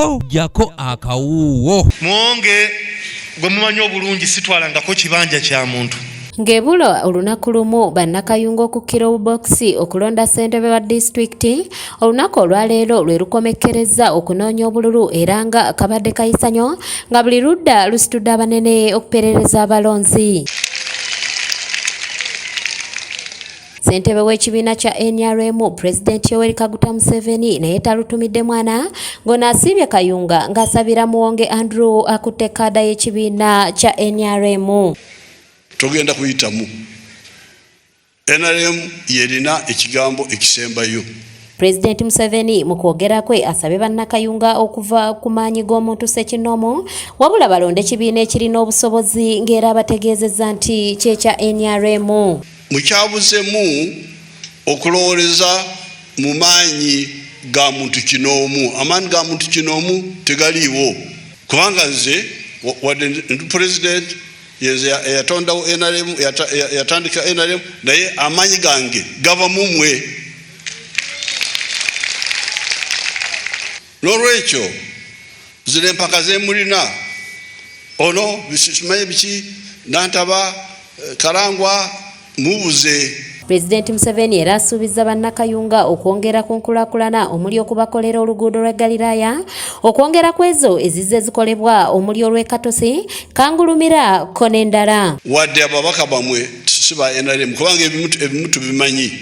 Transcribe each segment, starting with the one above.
tojjako akawuuwo mwonge gwe mumanyi obulungi sitwalangako kibanja kya muntu Ng'ebula olunaku lumu bannakayunga okukkira obubokisi okulonda ssentebe wa disitulikiti olunaku olwaleero lwe lukomekkerezza okunoonya obululu era nga kabadde kayisanyo nga buli ludda lusitudde abanene okuperereza abalonzi Ssentebe w'ekibiina kya nrm pulezidenti Yoweri Kaguta Museveni naye talutumidde mwana ng'ono asiibye Kayunga ng'asabira Muwonge Andrew akutte kaada y'ekibiina kya nrm. Togenda kuyitamu nrm yerina ekigambo ekisembayo. Pulezidenti Museveni mu kwogera kwe asabye bannakayunga okuva ku maanyi g'omuntu ssekinnoomu wabula balonde ekibiina ekirina obusobozi ng'era abategeezezza nti kyekya nrm. Mukyabuzemu okulowoleza mu maanyi ga muntu kinoomu. Amaanyi ga muntu kinoomu tegaliiwo kubanga nze wadde ndi pulezidenti yenze eyatondawo nrm yatandika nrm naye amaanyi gange gava mumwe. N'olwekyo zino empaka zemulina ono simanyi biki nantaba eh, kalangwa mubuze Pulezidenti Museveni era asuubizza bannakayunga okwongera ku nkulakulana omuli okubakolera oluguudo lwa Galiraaya okwongera ku ezo ezizze zikolebwa omuli olw'e Katosi, Kangulumira ko n'endala. Wadde ababaka bamwe si ba NRM kubanga ebimu tubimanyi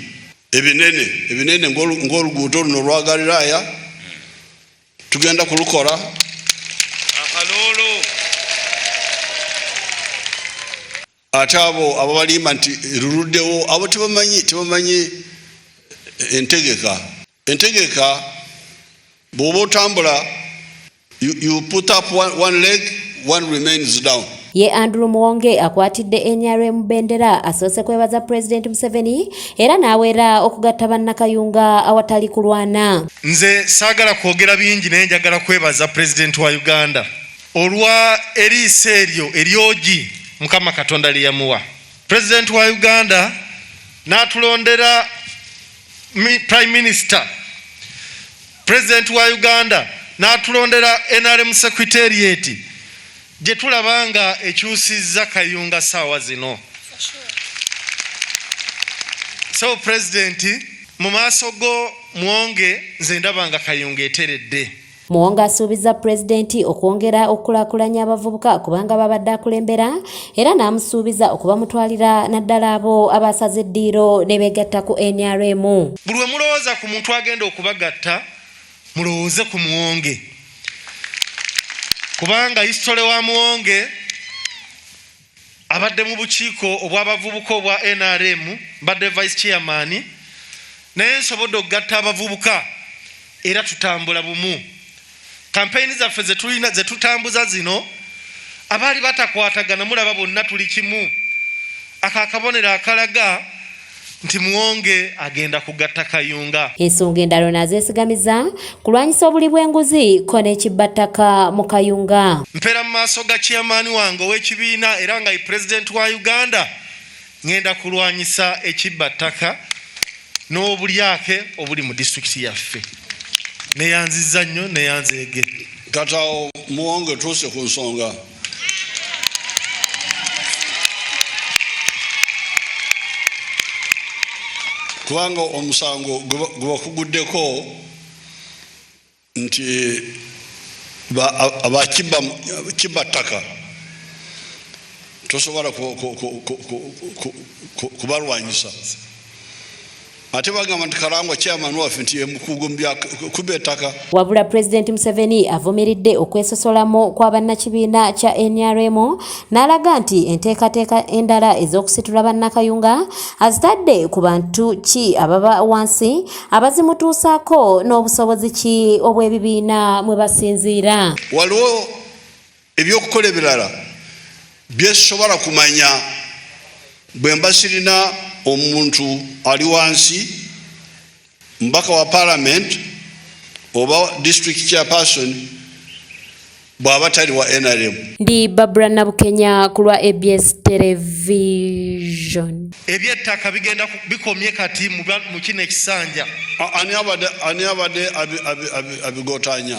ebinene ebinene ng'oluguudo luno olwa galiraaya tugenda kulukola akaloolo ate abo ababalimba nti luluddewo abo tebamanyi tebamanyi entegeka entegeka bw'oba otambula You, you put up one, one leg, one remains down. Ye Andrew Muwonge akwatidde NRM bendera asoose kwebaza President Museveni era n'aweera okugatta bannakayunga awatali kulwana. Nze saagala kwogera bingi naye njagala kwebaza President wa Uganda olwa eriiso eryo eryogi Mukama Katonda lye yamuwa. President wa Uganda n'atulondera Prime Minister President wa Uganda n'atulondera NRM Secretariat gye tulaba nga ekyusizza Kayunga saawa zino. So President mu maaso go mwonge nze ndaba nga Kayunga eteredde. Muwonge asuubiza pulezidenti okwongera okukulakulanya abavubuka kubanga babadde akulembera era n'amusuubiza okubamutwalira naddala abo abaasaze eddiiro ne beegatta ku nrm buli we mulowooza ku muntu agenda okubagatta mulowooze ku muwonge kubanga isitole wa muwonge abadde mu bukiiko obw'abavubuka obwa nrm mbadde vice chairman naye nsobodde okugatta abavubuka era tutambula bumu kampeyini zaffe zetulina zetutambuza zino abaali batakwatagana mulaba bonna tuli kimu ako akabonero akalaga nti muwonge agenda kugatta kayunga ensonga endala ono azeesigamiza kulwanyisa obuli bw'enguzi ko n'ekibbattaka mu kayunga mpeera mu maaso ga chairman wange ow'ekibiina era nga ye pulezidenti wa uganda Ngenda kulwanyisa ekibba ttaka n'obulyake obuli mu disitulikiti yaffe. Neyanziza nnyo neyanzeege. Kata muwongo etuuse ku nsonga. kubanga omusango gubakuguddeko nti abakibba ttaka tosobola kubalwanyisa ate bagamba nti kalangwa chairman waffe nti yemukugu kuba ettaka wabula pulezidenti museveni avumiridde okwesosolamu kwa bannakibiina kya nrm n'alaga nti enteekateeka endala ez'okusitula bannakayunga azitadde ku bantu ki ababa wansi abazimutuusaako n'obusobozi ki obw'ebibiina mwe basinziira waliwo ebyokukola ebirala byesobola kumanya bwe mba sirina omuntu ali wansi mbaka wa palamenti oba district chairperson bw'aba tali wa nrm ndi babura nabukenya ku lwa abs television ebyettaka bigenda bikomye kati mu kino ekisanja ani abadde abigotanya